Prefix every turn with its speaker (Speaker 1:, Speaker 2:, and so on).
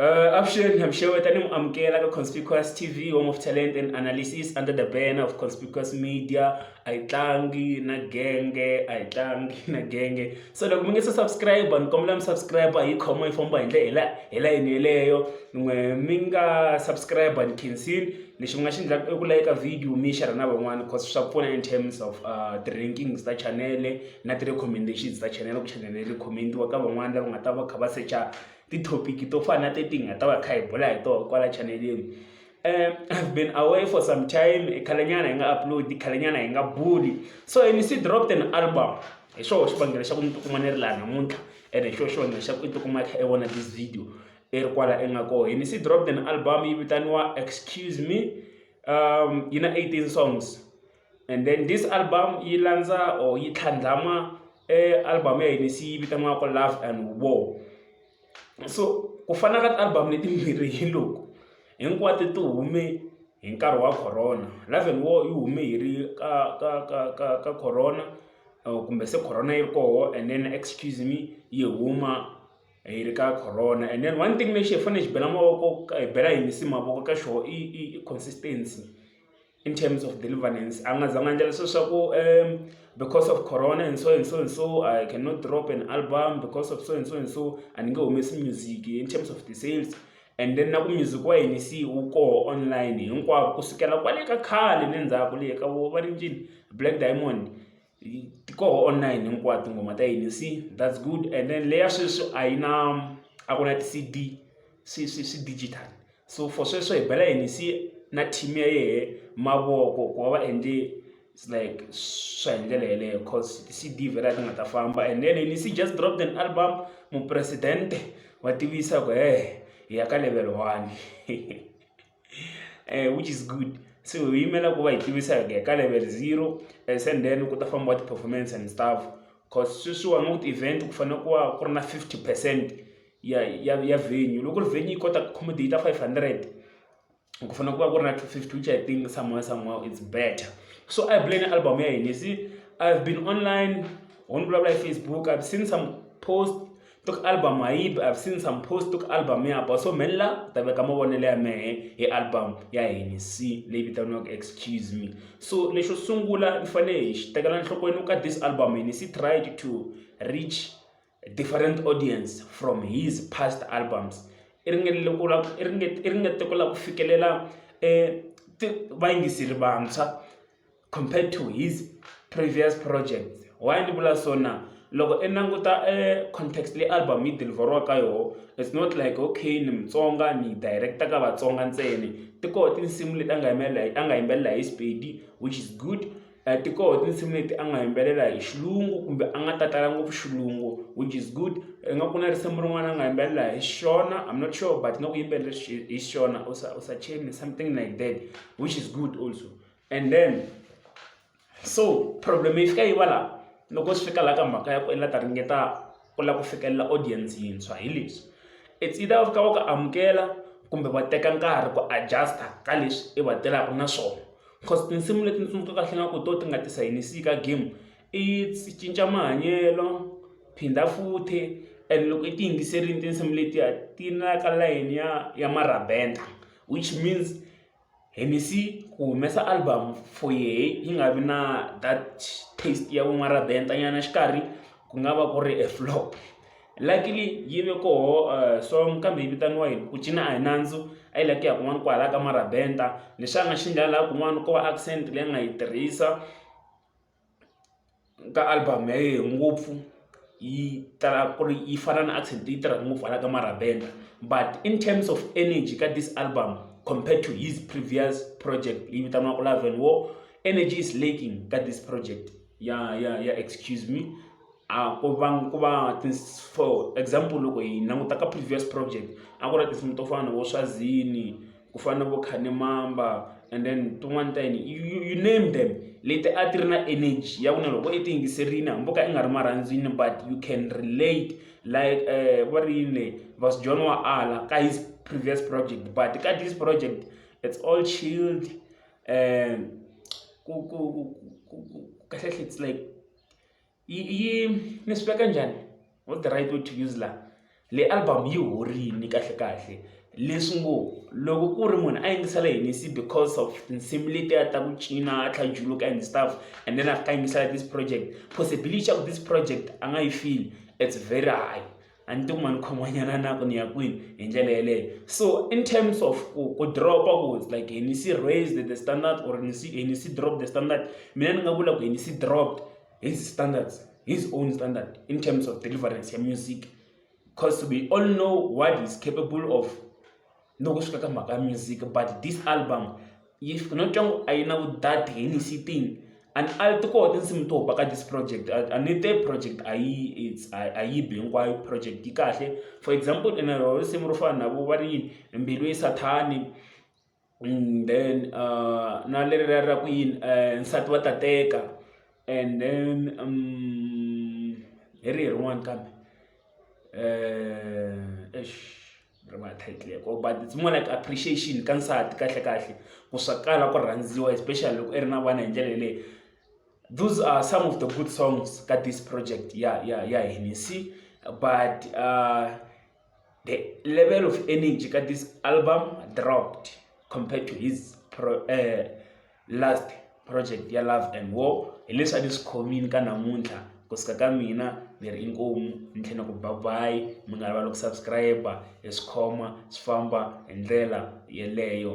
Speaker 1: Uh, avuxeni I'm Sure tani mu amukela ka Conspicuous TV Home of Talent and Analysis under the banner of Conspicuous Media a yi tlangi na genge a yi tlangi na genge so loko mi nge se subscribe ni kombela mi subscribe hi khoma yi famba hi ndlela hi layeni yeleyo n'we mi nga subscribe ni khensin lexi mi nga xi endlaka i ku layika video mi xera na van'wana because swa pfuna in terms of uh, ti-rankings ta chanele na ti-recommendations ta chanele ku chanele recommend-iwa ka van'wana lava nga ta va kha va secha tithopiki to fana na teti hi nga ta va kha hi bula hi tona kwala chaneleni um i've been away for some time khalenyana hi nga upload khalenyana hi nga buli so and si dropped an album hi xoho xivangelo xa ku ni tikuma ni ri laha namuntlha and hi xoho xivangelo xa ku i tikuma i kha i vona this video i ri kwala i nga koho hi ni si dropped an album yi vitaniwa excuse me um yi na 18 songs and then this album yi landza or yi tlhandlama album ya hina se yi vitaniwaka love and war so ku fana ka ti-album letimbirhi hi loko hinkwato ti hume hi nkarhi wa corona love and war yi hume hi ri ka ka ka ka ka corona kumbe se corona yi ri koho and then excuse me yi huma hi ri ka corona and then one thing lexi hi fanele hi xi bela mavoko hi bela hi misi mavoko ka xoho i i i consistency in terms of deliverance a nga zanga endla leswo swa ku um because of corona and so and so and so i cannot drop an album because of so and so and so a ni nge humesi music in terms of the sales and then na ku music wa yini se wu koho online hinkwako ku sukela kwale ka khale le ndzhaku le ka vo va ri njini black diamond ti koho online hinkwato tinghoma ta yini se that's good and then leya sweswi a yi na a ku na ti-C_D swi swi swi digital so for sweswo hi bela yini se na team ya yehe mavoko ku va va endle it's like swa hi ndlela yeleyo coz ti-C_D vhela ti nga ta famba and then yini se just drop an album mupresidente wa tivisa ku hehe hi ya ka level one. which is good so hi yimela ku va hi tivisa hi ku ya ka level zero and sen then ku ta fambiwa ti-performance and stuff cause sweswiwani u ti-event ku fanele ku va ku ri na fifty percent ya ya ya venue loko ri venue yi kota ku accommodate-a five hundred ku fanele ku va ku ri na two fifty which I think somehow somehow it's better so a hi buleni album ya hina you see I've been online ho ni vulavula hi Facebook I've seen some post tok album hayibi i've seen some post tok album ya ba so mhella u ta veka mavonelo ya mehe hi album ya henc leyi vitaniwaka excuse me so lexo sungula ni fanele hi xi tekela nhlokweni ka this album henc tried to reach different audience from his past albums i ringetile ku la i ringete i ringete ku la ku fikelela e vayingiseri vantshwa compared to his previous projects. Why ndzi vula so na? Loko i languta e context leyi album yi deliver-iwaka ka yona, it's not like okay ni Mutsonga ni yi direct-a ka Vatsonga ntsena. Ti koho tinsimu leti a nga a nga yimbelela hi Sepedi which is good, ti koho tinsimu leti a nga yimbelela hi xilungu kumbe a nga ta tala ngopfu xilungu which is good. Ingaku ku na risimu rin'wana a nga yimbelela hi Shona, I'm not sure but ingaku u yimbelele hi Shona or Sachemi something like that which is good also. And then so problem yi fika yi va laha loko swi fika laha ka mhaka ya ku i la ta ringeta ku lava ku fikelela audience yintshwa hi leswi it's either va fika va ku amukela kumbe va teka nkarhi ku adjust-a ka leswi i va tirhaka na swona cause tinsimu leti ni tsundzuka kahle nga ku hi to ti nga ti sayinisi ka game i cinca mahanyelo phinda futhi and loko i ti yingiserile tinsimu letiya ti na ka layeni ya ya marhabenda which means. Hennessy ku humesa album for yehe yi nga vi na that taste ya vun'warabenta nyana xikarhi ku nga va ku ri a flop. Luckily yi ve koho song kambe yi vitaniwa yini ku cina a hi nandzu a yi lava ku ya kun'wana kwahala ka marabenta ni xana xi nga laha kun'wana ko va accent leyi a nga yi tirhisa. ka album ya yehe ngopfu yi tala ku ri yi fana na Accident yi tirha ngopfu hala ka Marabenda but in terms of energy ka this album compared to his previous project leyi vitaniwaka Love and War energy is lacking ka this project ya ya ya excuse me a ku va ku va for example loko hi languta ka previous project a ku ri tinsimu to fana na vo Swazini. ku fana na vo khanimamba and then tin'wani ta yini you, you, you name them leti a ti ri na energy ya ku na loko i ti yingiserini hambi ka i nga ri marhandzini but you can relate like uh, va ri yini leyi vas john wa ala ka his previous project but ka this project it's all chilled um ku ku ku kahle hle it's like yi yi ni swi veka njhani wo the right way to use la le album yi horini kahle kahle leswi ngo loko ku ri munhu a yingisela hinisi because of tinsimu letiya ta ku cina a tlhajuluka and stuff and then a fika yingisela this project possibility ya ku this project a nga yi feel it's very high a ni tiku ma ni khomanyana na ku ni ya kwini hi ndlela yeleyo so in terms of ku ku dropa ku like hi ni si raised the standard or ni si hi ni si drop the standard mina ni nga vula ku hi ni si dropped his standards his own standard in terms of deliverance ya music because we all know what is capable of loko swi fika ka mhaka ya music but this album yi no twa ngo a yi na vudati hi ni sitting and a ti koho tinsimu to ba ka this project a ni te project a yi a yi bi hinkwayo project yi kahle for example ene ro risimu ro fana na vo va ri mbilu yi sathani mm, then uh, na leri ra ra ku yini eh, nsati wa tateka and then um, hi ri hi rin'wana kambe um ri va title ko but it's more like appreciation ka nsati kahle kahle ku swa kala ku rhandziwa especially loko i ri na vana hi ndlela yeleyo those are some of the good songs ka this project ya ya ya hini si but uh, the level of energy ka this album dropped compared to his pro, uh, last project ya love and war hi leswi a ni swi khomini ka namuntlha ku suka ka mina ni ri inkomu ni tlhela ku ba bayi mi nga rivali ku subscribe hi swi khoma swi famba hi ndlela yeleyo